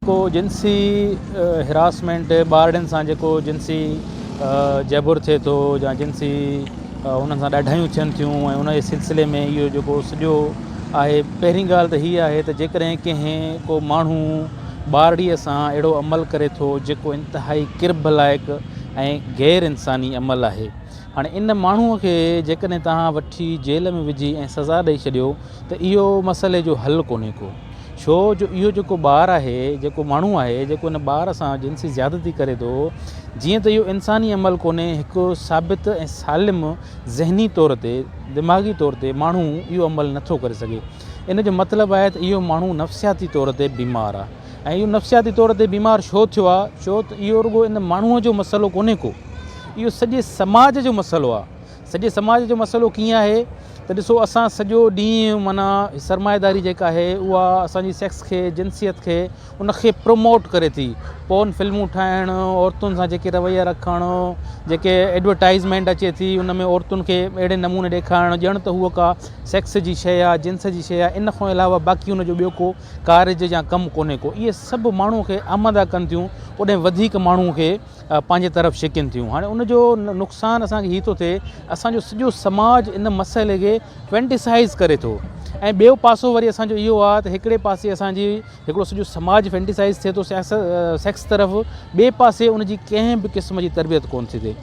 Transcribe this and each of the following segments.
جيڪو جنسي هراسمينٽ ٻارڙين سان جيڪو جنسي جبر ٿئي ٿو يا جنسي انهن سان ڏاڍايون ٿين ٿيون ۽ ان جي سلسلي ۾ اهو جيڪو سڄو آهي پهرين ڳالهه ته هي آهي ته جيڪڏهن ڪنهن ڪو ماڻهو ٻارڙيء سان اهڙو عمل ڪري ٿو جيڪو انتهائي ڪرڀ لائق ۽ غير انساني عمل آهي هاڻي ان ماڻهوء کي جيڪڏهن توهان وٺي جيل ۾ وجهي ۽ سزا ڏئي ڇڏيو ته اهو مسئلي جو حل ڪونهي ڪو. ڇو جو اهو جيڪو ٻار آهي، جيڪو ماڻهو آهي، جيڪو ان ٻار سان جنسي زيادتي ڪري ٿو، جيئن ته اهو انساني عمل ڪونهي، هڪ ثابت ۽ سالم ذهني طور تي، دماغي طور تي ماڻهو اهو عمل نٿو ڪري سگهي. ان جو مطلب آهي ته اهو ماڻهو نفسياتي طور تي بيمار آ. ۽ اهو نفسياتي طور تي بيمار ڇو ٿيو آهي ڇو ته اهو رڳو ان ماڻهوء جو مسئلو ڪونهي ڪو اهو سڄي سماج جو مسئلو آهي سڄي سماج جو مسئلو ڪيئن آهي ته ڏسو اسان سڄو ڏينهن معنيٰ سرمائيداري جيڪا آهي اها اسانجي سيڪس کي جنسيت کي ان کي پروموٽ ڪري ٿي پون فلمون ٺاهڻ عورتن سان جيڪي رويا رکڻ جيڪي ايڊورٽائزمينٽ اچي ٿي ان ۾ عورتن کي اهڙي نموني ڏيکارڻ ڄڻ ته هو ڪا سيڪس جي شيء آهي جنس جي شيء آهي ان کان علاوه باقي ان جو ٻيو ڪو ڪارج يا ڪم ڪونهي ڪو اهي سڀ ماڻهو کي آماده ڪن ٿيون اوڏانهن وڌيڪ ماڻهو کي پنهنجي طرف ڇڪين ٿيون هاڻي ان جو نقصان اسان کي هي ٿو ٿئي اسانجو سڄو سماج ان مسئلي کي فينٽيسائز ڪري ٿو ۽ ٻيو پاسو وري اسانجو اهو آهي ته هڪڙي پاسي اسانجي هڪڙو سڄو سماج فينٽيسائز ٿئي ٿو سيڪس طرف ٻئي پاسي ان جي ڪنهن به قسم جي تربيت ڪون ٿي ٿئي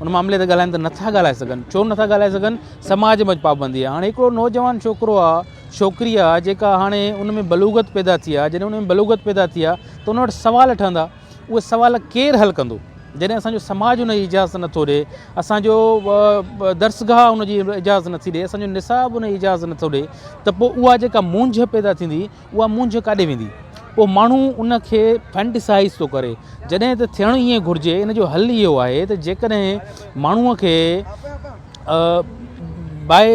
ان معاملي تي ڳالهائن ته نٿا ڳالهائي سگهن ڇو نٿا ڳالهائي سگهن سماج ۾ پابندي آهي هاڻي هڪڙو نوجوان ڇوڪرو آهي ڇوڪري آهي جيڪا هاڻي ان ۾ بلوغت پيدا ٿي آهي جڏهن ان ۾ بلوغت پيدا ٿي آهي ته ان وٽ سوال ٺهندا اهي سوال ڪير حل ڪندو جڏهن اسان جو سماج ان جي اجازت نٿو ڏي اسان جو درسگاهه ان جي اجازت نٿي ڏي اسان جو نصاب ان جي اجازت نٿو ڏي ته پوء اها جيڪا مونجهه پيدا ٿيندي اها مونجهه ڪاڏي ويندي؟ پوء ماڻهو ان کي فينٽيسائيز ٿو ڪري جڏهن ته ٿيڻ ائين گهرجي. ان جو حل اهو آهي ته جيڪڏهن ماڻهوء کي باء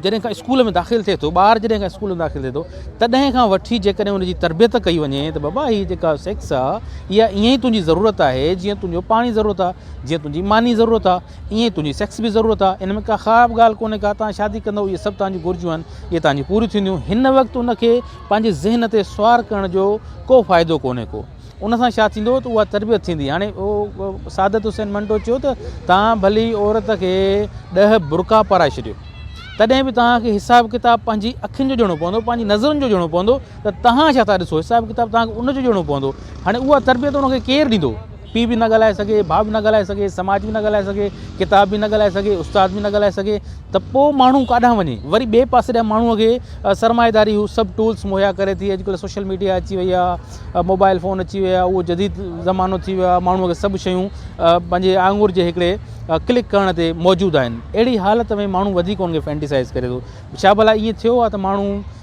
جڏهن کان اسڪول ۾ داخل ٿئي ٿو، ٻار جڏهن کان اسڪول ۾ داخل ٿئي ٿو تڏهن کان وٺي جيڪڏهن ان جي تربيت ڪئي وڃي ته بابا هي جيڪا سيڪس آهي اها ائين ئي تنهنجي ضرورت آهي جيئن تنهنجو پاڻي ضرورت آهي، جيئن تنهنجي ماني ضرورت آهي. ايئن تنهنجي سيڪس به ضرورت آ ان ۾ ڪا خراب ڳالهه ڪونهي ڪا تان شادي ڪندو اهي سڀ تان جون گهرجون آهن اهي تان جون پوريون ٿينديون هن وقت ان کي پنهنجي ذهن تي سوار ڪرڻ جو ڪو فائدو ڪونهي ڪو ان سان ڇا ٿيندو ته اها تربيت ٿيندي هاڻي سعادت حسين منٽو چيو ته تان ڀلي عورت کي ڏهه برقا پارائي ڇڏيو تڏهن به تان کي حساب ڪتاب پنهنجي اکين جو ڏيڻو پوندو پنهنجي نظرن جو ڏيڻو پوندو ته تان ڇا ٿا ڏسو حساب ڪتاب تان کي ان جو ڏيڻو پوندو هاڻي اها تربيت ان کي ڪير ڏيندو پيء به نه ڳالهائي سگهي، ڀاء به نه ڳالهائي سگهي، سماج به نه ڳالهائي سگهي، ڪتاب به نه ڳالهائي سگهي، استاد به نه ڳالهائي سگهي ته پوء ماڻهو ڪاڏانهن وڃي؟ وري ٻئي پاسي ڏانهن ماڻهوء کي سرمائيداري هو سڀ ٽولس مهيا ڪري ٿي، اڄڪلهه سوشل ميڊيا اچي وئي آهي، موبائل فون اچي ويا، اهو جديد زمانو ٿي ويو آهي، ماڻهوء کي سڀ شيون پنهنجي آڱر جي هڪڙي ڪلڪ ڪرڻ تي موجود آهن. اهڙي حالت ۾ ماڻهو وڌيڪ ان کي فينٽيسائز ڪري ٿو. ڇا ڀلا ائين ٿيو آهي ته ماڻهو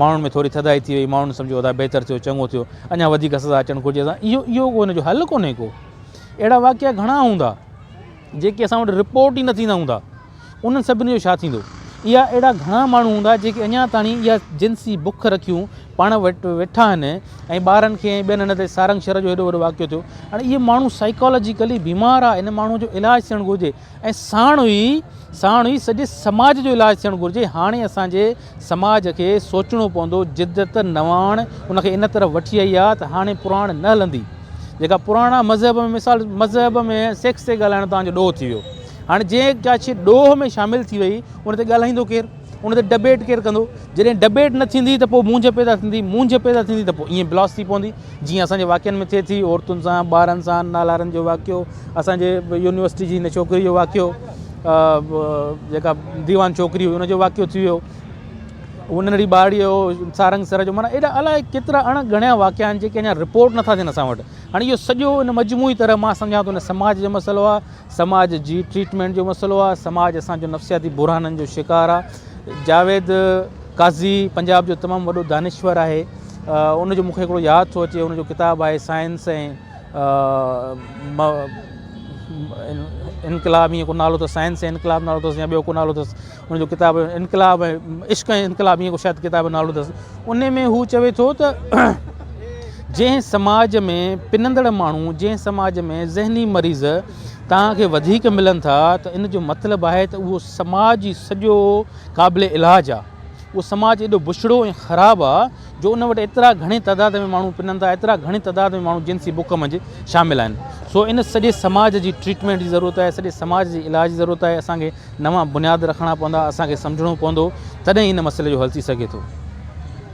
ماڻهن ۾ ٿوري ٿڌائي ٿي وئي، ماڻهن سمجهيو ادا بهتر ٿيو، چڱو ٿيو، اڃا وڌيڪ سزا اچڻ گهرجي اسان اهو اهو ڪو ان جو حل ڪونهي ڪو، اهڙا واقعا گهڻا هوندا جيڪي اسان وٽ رپورٽ ئي نه ٿيندا هوندا انهن سڀني جو ڇا ٿيندو؟ اها اهڙا گهڻا ماڻهو هوندا جيڪي اڃا تاڻي اها جنسي بک رکيون پاڻ وٽ ويٺا آهن ۽ ٻارن کي ۽ ٻين ان تي سارنگ شھر جو ايڏو وڏو واقعو ٿيو هاڻي اهي ماڻهو سائيڪالاجيڪلي بيمار آ ان ماڻهو جو علاج ٿيڻ گهرجي ۽ ساڻ ئي ساڻ ئي سڄي سماج جو علاج ٿيڻ گهرجي هاڻي اسان جي سماج کي سوچڻو پوندو جدت نواڻ ان کي ان طرف وٺي آئي آهي ته هاڻي پراڻ نه هلندي جيڪا پراڻا مذهب ۾ مثال مذهب ۾ سيڪس تي ڳالهائڻ توهان جو ڏوهه ٿي ويو هاڻي جنهن ڪا شيء ڏوهه ۾ شامل ٿي وئي ان تي ڳالهائيندو ڪير ان تي ڊبيٽ ڪير ڪندو؟ جڏهن ڊبيٽ نه ٿيندي ته پوء مونجهه پيدا ٿيندي، مونجهه پيدا ٿيندي ته پوء ائين بلاس ٿي پوندي جيئن اسان جي واقعن ۾ ٿئي ٿي، عورتن سان، ٻارن سان، نالارن جو واقعو، اسان جي يونيورسٽي جي هن ڇوڪري جو واقعو، جيڪا ديوان ڇوڪري هئي ان جو واقعو ٿي ويو، هو ننڍڙي ٻارڙي جو، سارنگ سر جو، معنيٰ اهڙا الائي ڪيترا اڻ ڳڻيا واقعا آهن جيڪي اڃا رپورٽ نٿا ٿين اسان وٽ. هاڻي اهو سڄو ان مجموعي طرح مان سمجهان ٿو ان سماج جو مسئلو آهي. سماج جي ٽريٽمينٽ جو مسئلو آهي، سماج اسان جو نفسياتي بحرانن جو شڪار آهي، جاويد قاضي پنجاب جو تمام وڏو دانشور آهي، ان جو مون کي هڪڙو ياد ٿو اچي ان جو ڪتاب آهي سائنس ۽ انقلاب ائين ڪو نالو اٿس سائنس ۽ انقلاب نالو اٿس يا ٻيو ڪو نالو اٿس. ان جو ڪتاب انقلاب ۽ عشق ۽ انقلاب ايئن ڪو شايد ڪتاب جو نالو اٿس ان ۾ هو چوي ٿو ته جنهن سماج ۾ پنندڙ ماڻهو جنهن سماج ۾ ذهني مريض توهان کي وڌيڪ ملن ٿا ته ان جو مطلب آهي ته اهو سماج ئي سڄو قابل علاج آهي اهو سماج ايڏو بڇڙو ۽ خراب آهي جو ان وٽ ايترا گهڻي تعداد ۾ ماڻهو پنن ٿا ايترا گهڻي تعداد ۾ ماڻهو جنسي بک منجهه شامل آهن سو ان سڄي سماج جي ٽريٽمينٽ جي ضرورت آهي سڄي سماج جي علاج جي ضرورت آهي اسان کي نوان بنياد رکڻا پوندا، اسان کي سمجهڻو پوندو، تڏهن ئي ان مسئلي جو حل ٿي سگهي ٿو.